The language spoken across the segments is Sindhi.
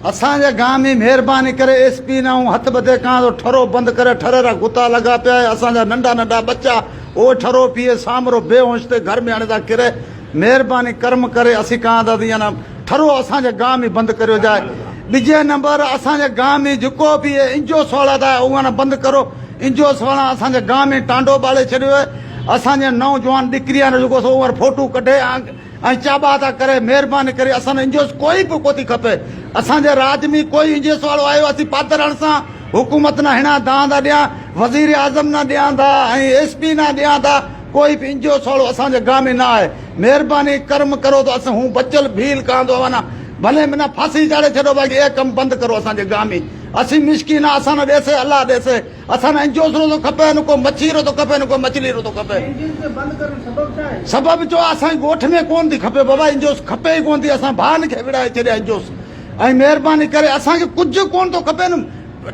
اسان جي گان ۾ مھرباني ڪري ايس پي نئون ھٿ ٻڌي ڪان ٿو ٺرو بند ڪري ٺري را غوطا لڳا پيا اھي اسان جا ننڍا ننڍا ٻچا اھو ٺرو پيئي سامرو بي ھونش ٿئي گھر ۾ ھڻي ٿا ڪري مھرباني ڪرم ڪري اسين ڪان ٿا ته ان ٺرو اسان جي گان ۾ بند ڪريو جاء ٻجي نمبر اسان جي گان ۾ جيڪو به اھي انجو سوڙا ٿا اھو ھڻ بند ڪرو انجو سوڙا اسان جي گان ۾ ٽانڊو ٻاڙي ڇڏيو اھي اسان جي نو جوان ڏڪريان جو جيڪو سو ھو ھڻ فوٽو ڪڍي ۽ چابا ٿا ڪري مهرباني ڪري اسان انجوس ڪوئي به ڪوتي کپي اسان جي راڄ مي ڪوئي انجيس واڙو آيو اسين پاترڻ سان حڪومت نه هڻا دان ٿا ڏيان وزير اعظم نه ڏيان ٿا ۽ ايس پي نه ڏيان ٿا ڪوئي به انجوس واڙو اسان جي گان مي نه آهي مهرباني ڪرم ڪرو ته اسين هون بچل ڀيل ڪان دو اوانا ڀلي منا ڦاسي چاڙهي ڇڏو باقي اهي ڪم بند ڪرو اسان جي گان مي اسين مسڪين آ اسان نه ڏيسي الله ڏيسي اسان ۾ انجوس روزو کپي نه ڪو مڇي روزو کپي نه ڪو مچلي روزو کپي. انجوس کي بند ڪرڻ سبب ڇا آهي؟ سبب چو اسان جي ڳوٺ ۾ ڪون ٿي کپي بابا انجوس کپي ئي ڪون ٿي اسان ڀائن کي وڙهائي ڇڏيا انجوس ۽ مهرباني ڪري اسان کي ڪجهه ڪون ٿو کپي نه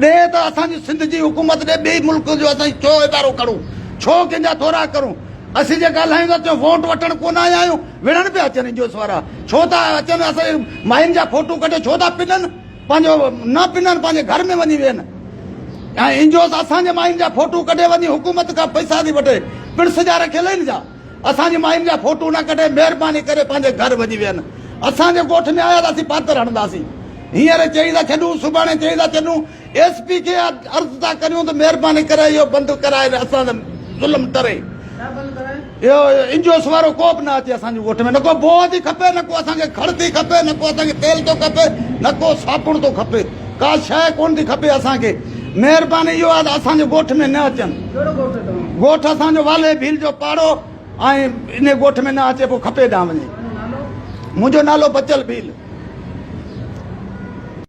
ڏي ته اسان جي سنڌ جي حڪومت ڏي ٻئي ملڪ جو اسان ڇو ادارو ڪرون ڇو ڪنهن جا ٿورا ڪرون اسين جي ڳالهايون ٿا تيون ووٽ وٺڻ ڪون آيا آهيون وڙهڻ پيا اچن انجوس وارا ڇو ٿا اچن اسان جي ماين جا فوٽو ڪڍي ڇو ٿا پنن. پنهنجو نه پنن پنهنجي گهر ۾ وڃي ويهن ۽ انجوس اسان جي ماين جا ڦوٽو ڪڍي وڃي حڪومت کان پئسا ٿي وٺي پڻ سجا رکيل آهن جا اسان جي ماين جا ڦوٽو نه ڪڍي مهرباني ڪري پنهنجي گهر وڃي ويهن اسان جي ڳوٺ ۾ آيا ته اسين پاتر هڻنداسين هينئر چئي ٿا ڇڏون سڀاڻي چئي ٿا ڇڏون ايس پي کي عرض ٿا ڪريون ته مهرباني ڪري اهو بند ڪرائي اسان تي ظلم ٽري اهو انجوس وارو ڪو به نه اچي اسان جي ڳوٺ ۾ نه ڪو بوهه ٿي کپي نه ڪو اسان کي کڙ ٿي کپي نه ڪو اسان کي تيل ٿو کپي نه ڪو صابڻ ٿو کپي ڪا شيء ڪونه ٿي کپي اسان کي مهرباني اهو آهي ته اسان جي ڳوٺ ۾ نه اچن ڪهڙو ڳوٺ اٿو ڳوٺ اسان جو والهي ڀيل جو پاڙو ۽ ان ڳوٺ ۾ نه اچي پو کپي ڏانهن وڃي منهنجو نالو بچل ڀيل